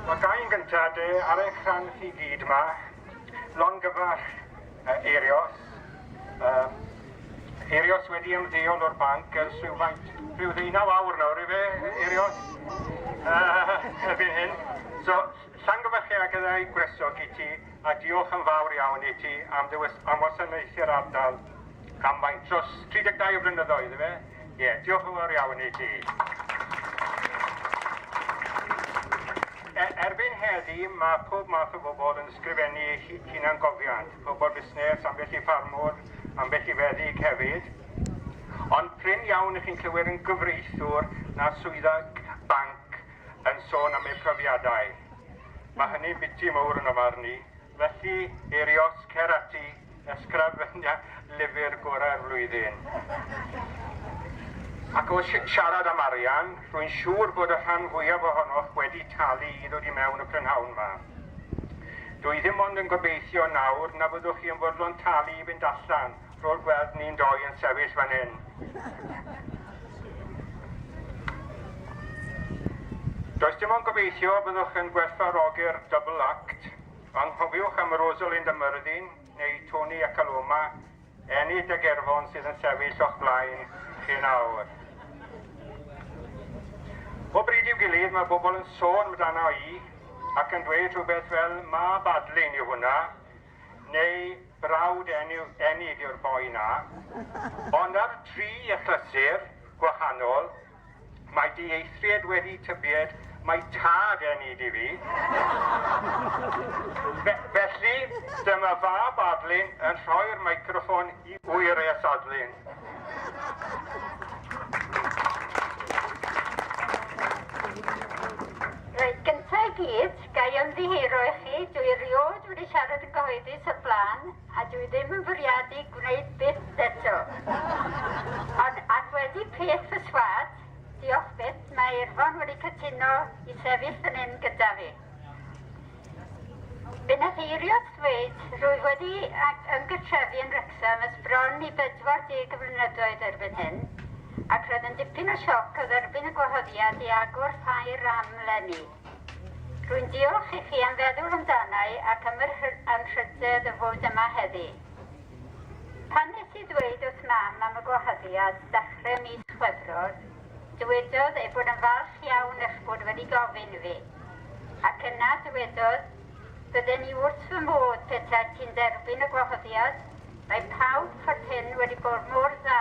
Wel, ga i'n gyntaf de ar eich rhan chi gyd yma, longyfarch uh, Eirios. Um, Eirios wedi ymddeol o'r banc ers rhywfaint, rhyw ddeunaw awr nawr i fe, Eirios, uh, erbyn hyn. So, llongyfarchiad gyda'i gwresog i ti. a diolch yn fawr iawn i ti am dy was- am wasanaethu'r ardal am faint dros 32 o flynyddoedd efe? Ie, diolch yn fawr iawn i ti. E, erbyn heddi mae pob math o bobl yn sgrifennu eu hu- hunangofiant, pobl busnes, ambell i ffarmwr, ambell i feddyg hefyd. Ond prin iawn i chi'n clywed yn gyfreithiwr na swyddog banc yn sôn am eu profiadau. Mae hynny'n biti mowr yn ofarn i. Felly, Eirios, cer ati, ysgrafenia lyfr gorau'r flwyddyn. Ac o siarad am arian, rwy'n siŵr bod y rhan fwyaf ohonoch wedi talu i ddod i mewn y prynhawn yma. Dwi ddim ond yn gobeithio nawr na fyddwch chi yn fodlon talu i fynd allan Rwy'n gweld ni'n doi yn sefyll fan hyn. Does dim ond gobeithio y byddwch yn gwerthfawrogi'r double act, ond cofiwch am Rosalind a Myrddin, neu Tony ac Aloma, Enid a Gerfon sydd yn sefyll o'ch blaen chi nawr. O bryd i'w gilydd mae bobl yn sôn amdano i ac yn dweud rhywbeth fel mab adlin yw hwnna, neu brawd Enid yw'r boi 'na, ond ar dri achlysur gwahanol, mae dieithried wedi tybied mai tad Enid i fi. Fe, felly, dyma fab Adlyn yn rhoi'r meicroffon i Wyres Adlyn. Reit, gyntaf i gyd, Ga i ymddiheuro i chi, dw i erioed wedi siarad yn gyhoeddus o'r blaen, a dw i ddim yn fwriadu gwneud byth eto. Ond, ac wedi peth fy swat, diolch byth, mae Irfon wedi cytuno i sefyll fan hyn gyda fi. Fe wnaeth Eirios ddweud, rwyf wedi ymgartrefu yn Wrecsam ers bron i 40 o flynyddoedd erbyn hyn, ac roedd yn dipyn o sioc o dderbyn y gwahoddiad i agor ffair am leni. Rwy'n diolch i chi am feddwl amdana i ac am yr anrhydedd o fod yma heddi. Pan nes i ddweud wrth Mam am y gwahoddiad ddechrau mis Chwefror, dywedodd ei bod yn falch iawn eich bod wedi gofyn i fi. Ac yna, dywedodd, Bydden i wrth fy modd petaet ti'n derbyn y gwahoddiad, mae pawb ffordd hyn wedi bod mor dda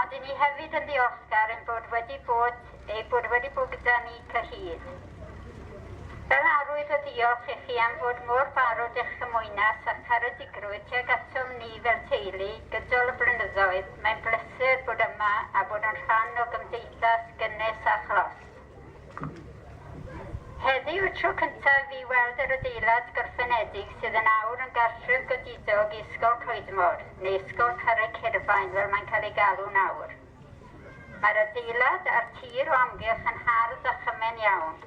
ond i ni hefyd yn ddiolchgar ein bod wedi bod ei bod wedi bod gyda ni cyhyd. Fel arwydd o ddiolch i chi am fod mor barod eich cymwynas a'ch caredigrwydd tuag atom ni fel teulu gydol y blynyddoedd, mae'n bleser bod yma a bod yn rhan o gymdeithas gynnes a chlos. Heddiw y tro cyntaf i fi weld yr adeilad gorffenedig sydd yn awr yn gartref godidog i Ysgol Coedmor, neu Ysgol Carreg Hirfaen fel mae'n cael ei galw'n awr. Mae'r adeilad a'r tir o amgylch yn hardd a chymen iawn.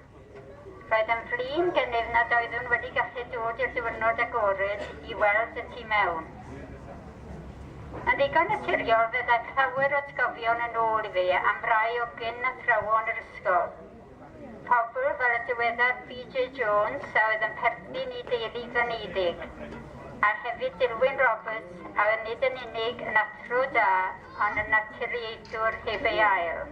Roedd yn flin gennyf nad oeddwn wedi gallu dod i'r diwrnod agored i weld y tu mewn. Yn ddigon naturiol fe ddaeth llawer o atgofion yn ôl i fi am rai o gyn athrawon yr ysgol. Pobl fel y diweddar BJ Jones a oedd yn perthyn i deulu Ganeiddig, a hefyd Dilwyn Roberts a oedd nid yn unig yn athro da ond yn naturiaethwr heb ei ail.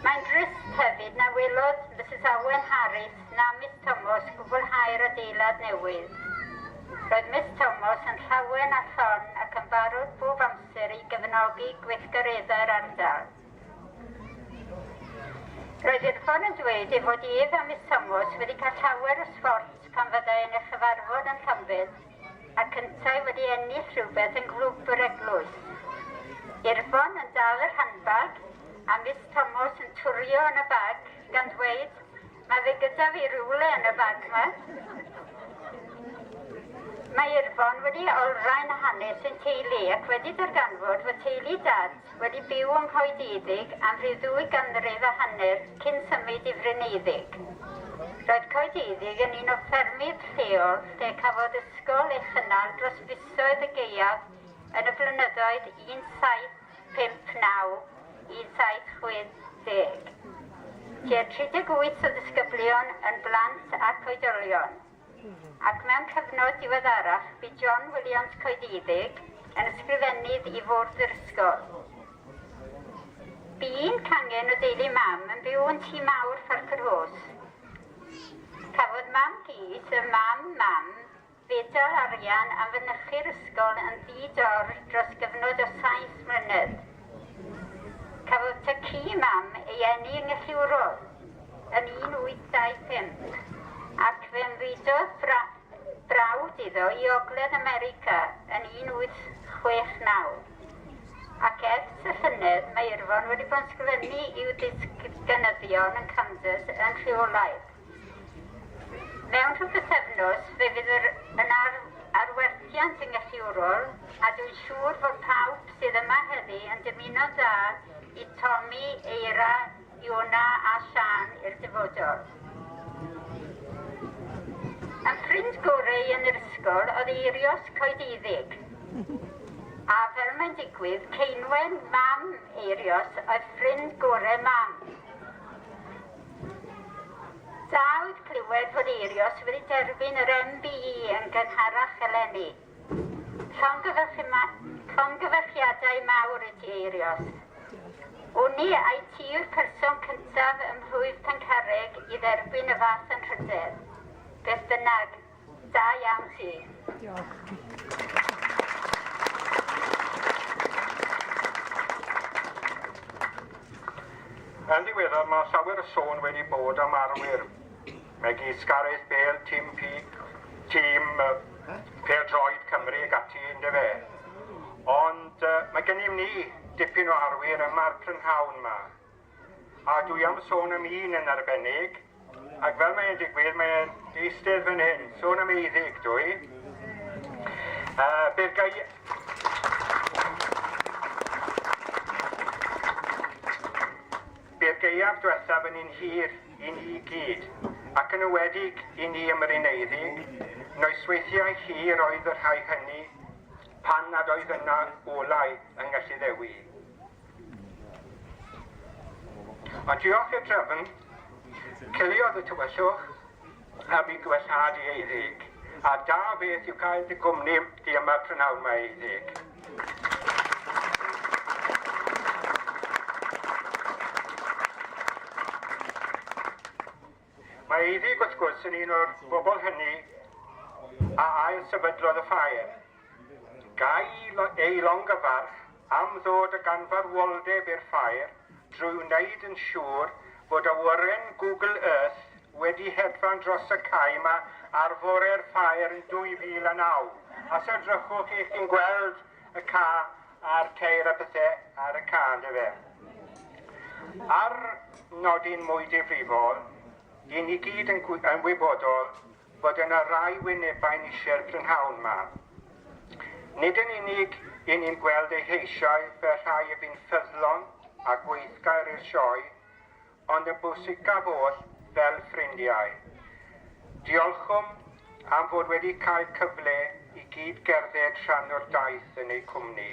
Mae'n drist hefyd na welodd Mrs Owen Harris na Miss Tomos gwblhau'r adeilad newydd. Roedd Miss Tomos yn llawen a llon ac yn barod bob amser i gefnogi gweithgareddau'r ardal. Roedd Irfon yn dweud ei fod ef a Miss Tomos wedi cael llawer o sforts pan fyddai yn ei chyfarfod yn Llanbed ac yntau wedi ennill rhywbeth yng Nghlwb yr Eglwys. Irfon yn dal yr handbag a Miss Tomos yn twrio yn y bag. gan ddweud, mae fe gyda fi rywle yn y bag ma. Mae Irfon wedi olrhain hanes ein teulu ac wedi darganfod fod teulu dad wedi byw yng Nghoediddig am rhyw ddwy ganrif a hanner cyn symud i Fryneiddig. Roedd Coediddig yn un o ffermydd lleol lle cafodd ysgol ei chynnal dros fisoedd y gaeaf yn y flynyddoedd 17 59 i 760. Tua 38 o ddisgyblion yn blant ac oedolion. Ac mewn cyfnod diweddarach bu John Williams Coediddig yn ysgrifennydd i fwrdd yr ysgol. Bu un cangen o deulu mam yn byw yn tŷ mawr Ffarcwrhos. Cafodd mam Gys, y mam mam, Gyda'r arian am fynychu'r ysgol yn ddi-dor dros gyfnod o saith mlynedd, cafodd tŷ ci mam ei eni yng Ngelliwrol yn 1825, ac fe ymfudodd brawd iddo i Ogledd America yn 1869, ac ers y llynedd mae Irfon wedi bod yn sgrifennu i'w ddisgynyddion yn Kansas yn rheolaidd. Mewn rhyw bythefnos fe fydd yr yn ar arwerthiant yn gythiwrol a dwi'n siŵr fod pawb sydd yma heddi yn dymuno'n dda i Tommy, Eira, Iona a Siân i'r dyfodol. Yn ffrind gore i yn yr ysgol oedd Eirios coediddig. A fel mae'n digwydd, Ceinwen, mam Eirios, oedd ffrind gore mam. Dawd clywed fod Eirios wedi derbyn yr MBE yn gynharach eleni. Llongyfarchiadau mawr i ti, Eirios. Wni ai ti yw'r person cyntaf ym Mhlwyf Pencarreg i dderbyn y fath anrhydedd? Beth bynnag, Da iawn ti. Diolch. Yn ddiweddar mae llawer o sôn wedi bod am arwyr megis Gareth Bale, Tim Peak, tîm Pêl-droed Cymru ac ati, ynddo fe. Ond mae gennym ni dipyn o arwyr yma'r prynhawn yma. A dwi am sôn am un yn arbennig, ac fel mae'n digwydd, mae'n eistedd fan hyn. Sôn am eiddig, dwi. Uh, bydd gai... Bydd geiaf diwethaf yn un hir i ni i gyd, ac yn ywedig i ni ym Mryneiddig, noesweithiau hir oedd y rhai hynny pan nad oedd yna olau yng Ngelli Ddewi. A diolch i'r drefn, ciliodd y tywyllwch am i gwellhadu ei ddug, a da beth yw cael dy gwmni di yma prynhawn mae ei ddug. Mae Eifi, wrth gwrs, yn un o'r bobl hynny a ail-sefydlodd y ffair. Gai ei longyfarch am ddod a ganfarwoldeb i'r ffair drwy wneud yn siŵr fod awyren Google Earth wedi hedfan dros y cae yma ar fore'r ffair yn 2009. Os edrychwch, 'y chi'n gweld y ca a'r ceir a pethau ar y ca, ynddo fe. Ar nodyn mwy difrifol, dyn ni gyd yn, yn wybodol bod yna rai wynebau nisie'r prynhawn yma. Nid yn unig i ni'n gweld eu heisiau fel rhai y bu'n ffyddlon a gweithgair i'r sioe, ond y bwysicaf oll, fel ffrindiau. Diolchwn am fod wedi cael cyfle i gyd gerdded rhan o'r daith yn eu cwmni.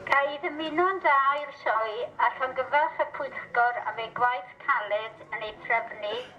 Ga i ddymuno'n dda i'r Sioe a llongyfarch y Pwyllgor am eu gwaith caled yn ei threfnu